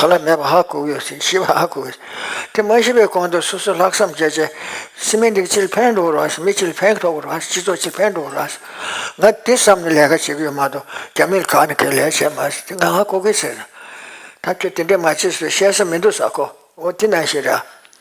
ག་ལ་མེད་པ་ཧ་གོ་གི་ཡོད་ཤི་བ་ཧ་གོ་གི་ཡོད། དེ་མ་ཤི་བའི་གོང་དུ་སོ་སོས་ལྷག་བསམ་བརྒྱད་བྱས། སེམས་མི་འགྲིག་ཕྱིར་ཕན་འགྲོ་རོགས་ཞེས་མི་ཕྱིར་ཕན་ཐོགས་རོགས་ཞེས་སྤྱི་ཚོགས་ཕྱིར་ཕན་འགྲོ་རོགས་ཞེས། ང་དེ་བསམ་ནས་ལས་ཀ་བྱེད་ཀྱི་ཡོད་མ་གཏོགས་རྒྱ་མིར་གང་ནས་གང་ལས་བྱས་མ་ཟེར་ཏེ་ང་ཧ་གོ་གི་ཟེར། ད་ཁྱོད་དེ་འདྲས་མ་བྱེད་ཟེར་བཤད་ས་མི་འདུག་ས་གོ་འོ་དེ་ན་ཞིག་ར།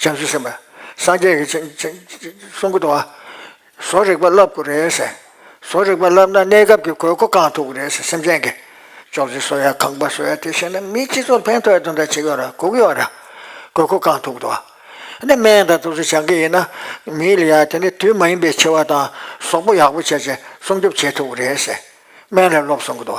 བྱང་ཆུབ་སེམས་དཔའ་སངས་རྒྱས་ཀྱི་གསུང་གོ། བཟོ་རིག་པ་བསླབ་དགོས་རེད། བཟོ་རིག་པ་བསླབ་ན་གནས་སྐབས་ཀྱི་དགོས་མཁོ་བསྐང་ཐུབ་རེད་སེམས་ཅན་གྱི། ཅོག་ཙེ་བཟོ་ཡ་ཁང་པ་བཟོ་ཡ་དེ་བྱས་ན་མི་སྤྱི་ཚོགས་ཕན་ཐོགས་ཡ་དོན་དག་བྱེད་ཀྱི་ཡོད་ར་གོ་གི་ཡོད་ར། དགོས་མཁོ་བསྐང་ཐུབ་དགོས། ནས་སྨན་དང་དུག་གསོ་བྱ་གི་ཡིན་ན། མིའི་ལ་ཡ་དེ་ནས་དུས་མ་ཡིན་པའི་འཆི་བ་དང་ཟོག་པོ་ཡག་པོ་བྱས་ཚེ་སྲུང་སྐྱོབ་བྱེད་ཐུབ་རེད། སྨན་ལ་སློབ་སོང་གི།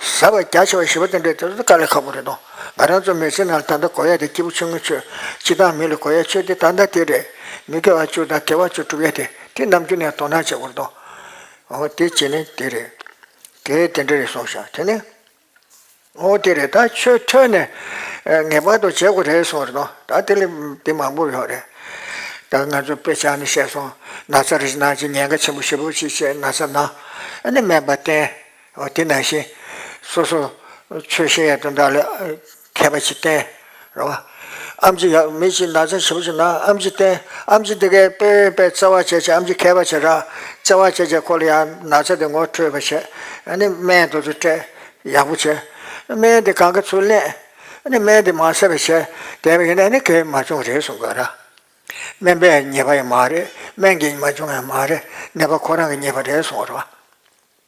བཟའ་བ་རྒྱ་ཆེ་བ་ཞེས་པ་དེ་འདྲའི་དེ་ཚོ་དཀའ་ལས་ཁག་པོ་རེད་དོ། ང་རང་ཚོ་མི་ཚེའི་ནང་ལ་ད་ལྟ་གོ་ཡ་དེ་སྐྱིད་པོ་ཆུང་ངུ་ཆོས། སྤྱི་དང་མི་ལ་གོ་ཡ་ཆོས་དེ་ད་ལྟ་དེ་རེད། མི་དགེ་བ་བཅུ་དང་དགེ་བ་བཅུ་དྲུག་ཡ་དེ་དེ་ནམ་རྒྱུན་ནས་དོ་སྣང་བྱེད་དགོས་རེད་དོ། འོ་དེ་བྱས་ནས་དེ་རེད། དེ་དེ་འདྲ་རེད་སོང་ཤག་དེ་ནས། འོ་དེ་རེད་ད་ཆོས་ཐོས་ནས། ངེས་པར་དུ་བྱེད་དགོས་རེད་སོང་རེད་དོ། ད་དེ་ལས་དེ་མང་པོ་ཡོད་རེད། ད་ང་ཚོ་དཔེ་ཆ་ནས་བཤད་སོང། ན་ཚ་རེ་ཞིག་ན་ཅིག་ཉེན་ཁ་ཆེན་པོ་ཞེ་པོ་ཞིག་བྱས་ན་ཚ་ན། ཨ་ནི་སྨན་པ་བསྟེན། དེ་ནང་བཞིན་སོ་སོར་ཆོས་གཞན་ཡང་དོན་དག་ལས་མཁས་པ་ཅིག་བསྟེན། རེ་བ། ཨམ་ཅི་ཡག་མི་ཅིག་ནགས་ཚལ་ཞིམ་པོ་ཞིག་ན་ཨམ་ཅི་བསྟེན། ཨམ་ཅི་འདི་གའི་དཔེ་འོས་པའི་བརྩེ་བ་བྱས་བྱས་ཨམ་ཅི་མཁས་པ་བྱས་གྲགས། བརྩེ་བ་བྱས་བྱས་ཁོ་ལ་ཡང་ནགས་ཚལ་དེ་ངོ་འཕྲོད་པར་བྱས། ནི་སྨན་དུ་དུ་སྤྲད། ཡག་པོ་བྱས། སྨན་དེ་གང་གི་ཚུལ་གླེང། ནི་སྨན་དེ་མ་ཟད་པར་བྱས། དེ་བས་ན་ནི་གས་མ་བྱུང་རེད་གསུང་དགོས་ར། སྨན་པས་ཉེས་པ་ཡང་མ་རེད་སྨན་གས་མ་བྱུང་ཡང་མ་རེད་ནད་པ་ཁོ་རང་གིས་ཉེས་པ་རེད་གསུང་བར་བ།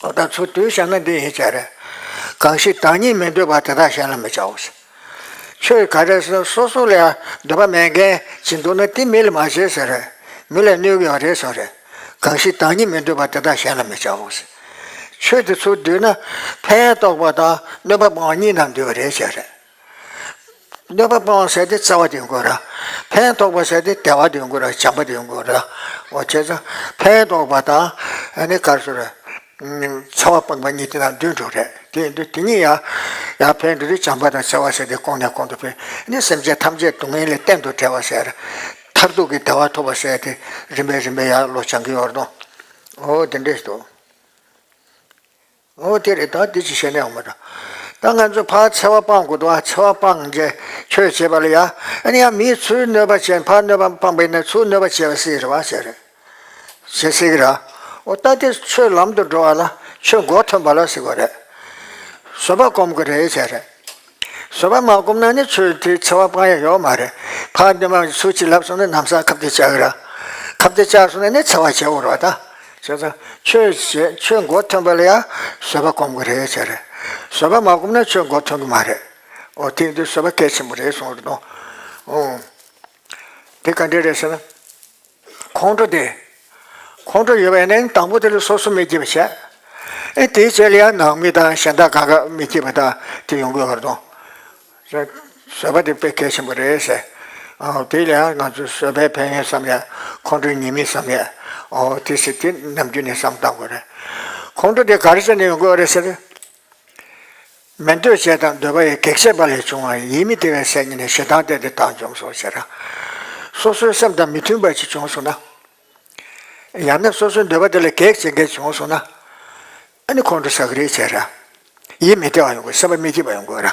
ད་ཚུར་དུས་བྱ་ན་འདི་ཡིན་བྱ་རེ། གང་ཞིག་བདག་ཉིད་མི་འདོད་པ་དེ་དག་གཞན་ལ་མི་བྱའོ། ཆོས་ག་རེ་ཟིན་སོ་སོ་ལ་ཡང་འདོད་པ་མེད་མཁན་གྱིས་འདོད་ན་དེ་མི་ལ་མ་བྱེད་ཟེར་རེ། མི་ལ་གནོད་ཀྱང་རེ་སོགས་རེ། གང་ཞིག་བདག་ཉིད་མི་འདོད་པ་དེ་དག་གཞན་ལ་མི་བྱའོ། ཆོས་དེ་ཚུར་འདུས་ན་ཕན་ཡོན་རྟོགས་པ་དང་གནོད་པ་སྤང་བ་གཉིས་རྣམས་འདུས་པ་རེ་བྱ་རེ། འདོད་པ་སྤོང་བ་བྱས་ཏེ་རྩ་བ་དེ་དགོས་ར། ཕན་འདོགས་པ་བྱས་ཏེ་དལ་བ་དེ་དགོས་ར་བྱམས་པ་དེ་དགོས་ར། འོ་བྱས་ཙང་ཕན་འདོགས་པ་དང་ནི་གར་སོ་ར། ཚ་བ་སྤངས་པ་གཉིས་དེ་དང་དུས་འགྲོགས་རེད་དེ་ཡིན་དུས་དེ་གཉིས་ཡང། ཡང་ཕན་འདོགས་ཏེ་བྱམས་པ་དང་ཚ་བ་བྱས་ཏེ་སྐོང་ནས་སྐོང་དུ་ཕེབས་ནི་སེམས་ཅན་ཐམས་ཅད་སྡུག་བསྔལ་ལས་གཏན་དུ་བྲལ་བར་བྱས་ར། མཐར་ཐུག་གི་བདེ་བ་ཐོབ་པར་བྱས་ཏེ་རིམ་པས་རིམ་པས་ཡང་བློ་བྱང་གི་ཡོར་དོ། འོ་དེ་འདྲས་སོ། ངོ་བོ་དེ་རེད་ད་འདི་ཅི་བྱེད་ནས་ཡོང་མ་ད་ད་ང་ཚོས་ཕར་འཚེ་བ་སྤང་དགོས་འདུག་ཨ་འཚེ་བ་སྤང་རྗེས་ཁྱོད་བྱེད་པ་ལ་ཡ་ཨ་ནི་ཡ་མིའི་ཚུལ་གནོད་པ་བྱེད་ཕར་གནོད་པ་སྤངས་པའི་ནི་ཚུལ་གནོད་པ་བྱེད་པ་སེ་རེད་བ་བྱེད་རེད་བྱེད་སེ་གི་ར་ཨོ་ད་དེ་ཆོས་ལམ་དུ་འགྲོ་བ་ལ་ཆོས་མགོ་ཐོན་པ་ལ་སེ་གོ་རེད་བཟོད་པ་སྒོམ་གི་རེད་བྱེད་རེད། བཟོད་པ་མ་བསྒོམ་ན་ནི་ཆོས་དེའི་འཚེ་བ་སྤང་ཡ་ཡོད་མ་རེད། ཕ་གདོན་མ་གི་ཚུལ་གྱིས་ལབ་སོང་ན་ནམ་ས་ཁབ་ཏེ་བཅག་ར། ཁབ་ཏེ་བཅག་སོང་ན་ནི་འཚེ་བ་བྱེད་འོར་བ་ད། བྱས་ཙང་ཆོས་བྱས་ཆོས་མགོ་ཐོན་པ་ལ་ཡང་བཟོད་པ་བསྒོམ་དགོས་རེད་བྱས་རེད། བཟོད་པ་མ་བསྒོམ་ན་ཆོས་མགོ་ཐོན་གི་མ་རེད། འོ་དེང་དུས་བཟོད་པ་གལ་ཆེན་པོ་རེད་སོང་རེད་དོ། འདི་ག་འདྲས་རེད་ཟེར་ན། ཁོང་ཁྲོ་དེ། ཁོང་ཁྲོ་ཡོད་པ་ཡིན་ན་དང་པོ་དེ་ལ་སོ་སོ་མི་སྐྱིད་པ་བྱས། ཨེ་དེའི་རྗེས་ལ་ཡང་ནང་མི་དང་གཞན་དག་དགའ་དགའ་མི་སྐྱིད་པ་དག་དེ་ཡོང་དགོས་བར་དུ། བཟོད་པ་དེ་དཔེ་གལ་ཆེན་པོ་རེད་ཟེར། དེ་ལ་ཡང་ང་ཚོས་བཟོད་པའི་ཕན་ཡོན་བསམ་ཡས་ཁོང་ཁྲོའི་ཉེས་དམིགས་བསམ་ཡས། དེ་ཟེར་དེ་ནམ་རྒྱུན་ནས་བསམ་བཏང་དགོས་རེད། ཁོང་ཁྲོ་དེ་ག་རེ་བྱས་ནས་ཡོང་དགོས་བ་རེད་ཟེར། མི་འདོད་བྱེད་དང་འདོད་པ་ཡི་གེགས་བྱེད་པ་ལས་བྱུང་བ་ཡིད་མི་བདེ་བའི་སའི་ཉིད་ནས་ཞེ་སྡང་སྟེ་དེ་དག་འཇོམས་སོ་ཞེས་དང། སོ་སོའི་སེམས་དང་མི་མཐུན་པ་ཅིག་བྱུང་སོང་ན། ཡང་ན་སོ་སོའི་འདོད་པ་དེ་ལ་གེགས་བྱེད་འགའ་བྱུང་སོང་ན། ཨ་ནི་ཁོང་ཁྲོ་ཟ་གི་རེད་ཅེས། ཡིད་མི་བདེ་བ་ཡོང་དགོས་སེམས་པ་མི་སྐྱིད་པ་ཡོང་དགོས།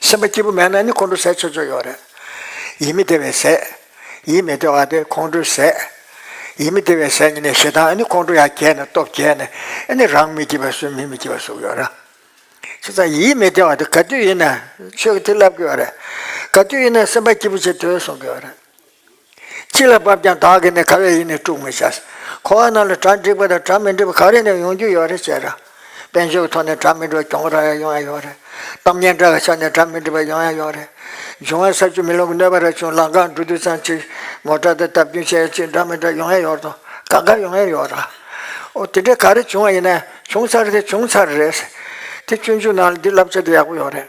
སེམས་པ་སྐྱིད་པོ་མེད་ན་ནི་ཁོང་ཁྲོ་ཟས་ཆོས་ཆོས་ཡོད་རེད། ཡིད་མི་བདེ་བའི་ཟས། ཡིད་མི་བདེ་བ་སྟེ་ཁོང་ཁྲོའི་ཟས། ཡིད་མི་བདེ་བའི་ཟས་ནི་ནི་ཞེ་སྡང་ནི་ཁོང་ཁྲོ་ཡང་བརྒྱད་ནི་སྟོབས་བརྒྱད་ནི་ནི་རང་མི་སྐྱིད་པ་སུའི་མི་མི་སྐྱིད་པ་སུ་ཡོད་ར། ཁྱེད་ཚང་ཡིད་མི་བདེ་བ་དེ་ག་དུས་ཡིན་ན་ཆོས་ཀྱི་ཐིག་ལབ་ཀྱི་ཡོད་རེད། ག་དུས་ཡིན་ན་སེམས་པ་སྐྱིད་པོ་བྱེད་དུས་གསུང་གི་ཡོད་རེད། ཅི་ལ་བབ་ཀྱང་བདག་གིས་ནི་ག་བས་ཡིད་ནི་དཀྲུག་མི་བྱ། འཁོར་བ་རྣམས་ལ་གྲ་འགྲིག་པ་དང་གྲ་མི་འགྲིག་པ་ག་རེ་ནས་ཡོང་རྒྱུ་ཡོད་རེད་ཅེས་ར། དཔེ་མཆོག་ཐོག་ནས་གྲ་མི་འགྲིག་པ་གྱོང་རག་ཡང་ཡོང་ཡ་ཡོད་རེད། གཏམ་སྙན་གྲགས་ཀྱི་ཆ་ནས་གྲ་མི་འགྲིག་པ་ཡོང་ཡ་ཡོད་རེད། འབྱུང་བ་ས་ཆུ་མི་ལོང་གི་གནོད་པ་ར་ཆུང་ལང་ཁང་འབྲུ་དུད་ཚང་ཅིག། མོ་ཏྲ་དང་སྟབས་བསྟུན་བྱས་ཡ་ཅིག་འདྲ་མི་འདྲ་ཡོང་ཡ་ཡོད་དོ། ག་འགའ་ཡོང་ཡ་ཡོད་ར། ཨོ་དེ་འདྲས་ག་རེ་བྱུང་བ་ཡིན་ན། བྱུང་ཚར་རེད་བྱུང་ཚར་རེད། དེ་བཅུ་མཇུག་ནང་ལ་འདི་བསླབ་བྱ་དེ་ཡག་པོ་ཡོད་རེད།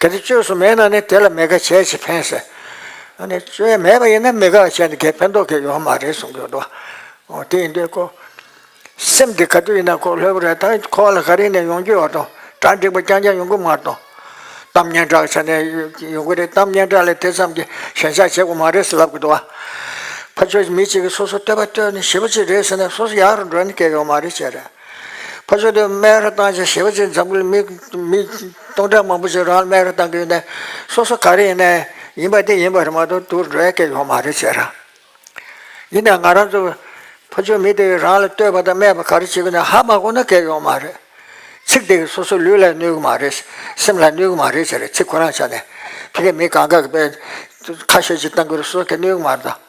གལ་ཏེ་བཅོས་སུ་མེད་ན་ནི་དེ་ལ་མི་དགའ་བྱས་ཅི་ཕན་ཟེར། ཨ་ནི་བཅོས་མེད་པ་ཡིན་ན་མི་དགའ་བྱས་ནས་དེ་ཕན་ཐོགས་ཀྱི་ཡོད་མ་རེད་གསུངས་ཡོད་དོ། འོ་དེ་ཡིན་དུས་ཁོ། སེམས་དེ་ག་དུས་ཡིན་ན་ཁོ་ལྷོད་པོ་རེད་ད་ཁོ་ལ་ག་རེ་ཡིན་ན་ཡོང་རྒྱུ་ཡོད་དོ། གྲ་འགྲིག་པ་རྐྱང་རྐྱང་ཡོང་གི་མ་རེད་དོ། གཏམ་སྙན་གྲགས་ཆ་ནས་ཡོང་གི་རེད་གཏམ་སྙན་གྲགས་ལས་དེ་ཙམ་གྱི་ཞེན་ཆགས་བྱེད་དགོས་མ་རེད་ཟེར་ལབ་ཀྱི་འདུག་ཨ། ཕ་ཆོས་ཀྱི་མི་གཅིག་གིས་སོ་སོ་བསྟོད་པ་བསྟོད་ནས་བྱིས་པ་གཅིག་རེད་ཟེར་ན་སོ་སོ་ཡག་རུ་འགྲོ་ནི་སྐལ་ཡོད་མ་རེད་ཅེས་རེད། ཕར་ཕྱོགས་དུ་སྨན་ར་བཏང་ཞིང་བྱིས་པ་ཚོས་འཛམ་བུའི་མིག་སྟོང་ཕྲག་མང་པོ་ཞིག་རང་ལ་སྨན་ར་བཏང་གི་ཡོད་ནའི། སོ་སོ་ག་རེ་ཡིན་ནའི་ཡིན་པ་དེ་ཡིན་པ་རེད་མ་གཏོགས་དུར་འགྲོ་ཡ་སྐད་ཡོད་མ་རེད་ཟེར་ར། ཡིན་ནའི་ང་རང་ཚོ་ཕ་ཆོས་མི་དེ་རང་ལ་ལྟོས་པ་དང་སྨྲས་པ་ག་རེ་བྱེད་གི་ནའི་ཧ་མ་གོ་ན་སྐད་ཡོད་མ་རེད། ཚིག་དེ་གིས་སོ་སོ་ལུས་ལ་གནོད་གི་མ་རེད། སེམས་ལ་གནོད་གི་མ་རེད་ཟེར་ར་ཚིག་ཁོ་རང་ཆ་ནས། ཕི་གས་མི་གང་ག་གི་པའི་ཁ་ཤོས་ཅིག་བཏང་གི་རུ་སོ་སོ་སྐད་གནོད་གི་མ་རེད་ད།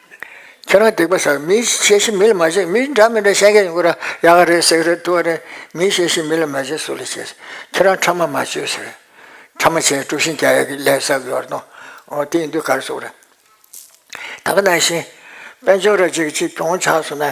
ཁྱེད་རང་སྡིག་པ་བསགས་མི་ཤེས་ཤི་མི་ལ་མ་བྱེད་མི་འདྲ་མི་འདྲ་ཤན་ཁྱེད་ཡོང་གི་ར་ཡག་ག་རེད་སེག་རེད་ཏུའ་རེད་མི་ཤེས་ཤི་མི་ལ་མ་བྱེད་སུ་ལ་བྱེད་ཁྱེད་རང་ཁྲ་མ་མ་བྱོས་ཟེར་རེད་ཁྲ་མ་བྱེད་དཀྲུགས་ཤིང་རྒྱ་ཡག་གི་ལས་བསགས་ཡོར་ནོ་ཨོ་དེ་ཡིན་དུས་ག་རེ་བསུགས་རེད་ད་ག་ནང་བཞིན་དཔལ་འབྱོར་ར་གཅིག་གིས་གཅིག་གྱོང་ཆགས་སུ་ན།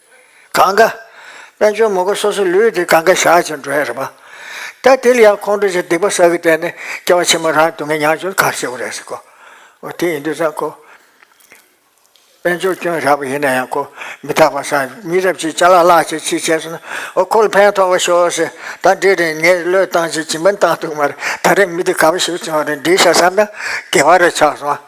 གང་གཱ། དཔལ་ཇོ་མོ་ཀ་སོ་སོའི་ལུས་དེ་གང་གཱའི་ཞག་ཅིང་འགྲོ་ཡང་རིག་པ། ད་དེ་ལ་ཡང་ཁོང་ཁྲོ་ཅན་སྡིག་པ་བསགས་ཀྱིས་བསྟན་ནས་སྐྱེ་བ་ཕྱི་མ་རང་སྡུག་བསྔལ་མྱང་ཆུང་གར་སྐྱེ་བོ་རེག་ཟིག་གོ། འོ་དེ་ཡིན་དུས་ཙང་ཁོ། དཔལ་འབྱོར་སྐྱོན་རགས་པ་ཡིན་ན་ཡང་ཁོ་མི་རྟག་པར་སངས་རྒྱས་མི་རབས་ཅིག་ལྕགས་ལ་ལག་ཅིག་ཅིག་བྱས་སོང་ན་འོ་ཁོ་ལ་ཕན་ཐོགས་པ་ཤོག་ཟེར་ད་འདྲི་རན་ངས་བློས་བཏང་ཅིག་ཅི་མིན་བཏང་འདུག་མ་རེད་ད་རེས་མི་དེ་ག་པ་ཞིག་བྱུང་རེད་འདྲིས་ཤག་བསམ་ན་དགེ་བ་རེ་ཆགས་སོང།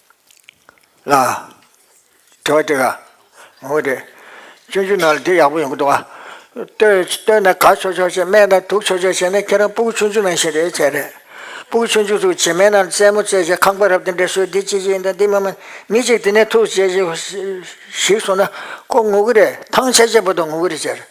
ལ། དྲི་བ་དེ་ག་ངོ་བོ་དེ། སྤྱོད་འཇུག་ནང་ལ་དེ་ཡག་པོ་ཡོང་གི་འདུག་ཨ། ལྟོས་ན་གར་ཆོག་ཆོག་བྱས་སྨད་ན་དུག་ཆོག་ཆོག་བྱས་ན་ཁྱེད་རང་སྤུ་གུ་ཆུང་ཆུང་ནང་བཞིན་རེད་བྱས་རེད། སྤུ་གུ་ཆུང་ཆུང་ཚོ་བྱེ་མའི་ནང་རྩེད་མོ་རྩེས་བྱས་ཁང་པ་རབ་དེ་འདྲ་བཟོས་འདི་ཅི་ཞིག་ཡིན་དང་འདི་མ་མ་མི་ཅིག་དེ་ནས་ཐུག་བྱས་ཞིག་སོང་ན་ཁོ་ངུ་གི་རེད་ཐང་ཆད་ཆད་པོ་དང་ངུ་གི་རེད་བྱས་རེད།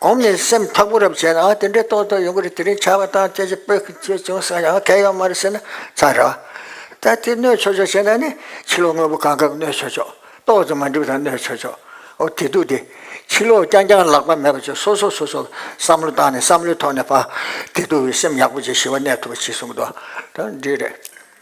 གོང་ནས་སེམས་མཐོ་པོ་རབ་བྱས་ན་ཡང་དེ་འདྲའི་རྟོག་ཚོགས་ཡོང་གི་རེད་དེ་རིང་བྱ་བ་དང་བཅས་ཀྱི་བོད་ཀྱི་ཆོས་བྱུང་ས་ཡང་གལ་ཡོད་མ་རེད་ཟེར་ན་ཚར་རོ། ད་དེ་གནོད་ཆོག་ཆོག་བྱས་ན་ནི་ཕྱི་ལོག་དངོས་པོ་གང་དགར་གནོད་ཆོག་ཆོག་ཏོག་ཙམ་མ་འགྲིག་པ་དང་གནོད་ཆོག་ཆོག་འོ་དེ་སྡུག་སྟེ། ཕྱི་ལོག་རྐྱང་རྐྱང་ལག་པ་མེད་པ་ཆོག་སོ་སོ་སོ་སོར་བསམ་བློ་བཏང་ནས་བསམ་བློའི་ཐོག་ནས་བ་དེ་སྡུག་བའི་སེམས་ཡག་པོ་བྱས་ཞི་བ་གནས་ཐུབ་པ་བྱེད་གསུངས་གི་འདུག་ད་འདི་རེད།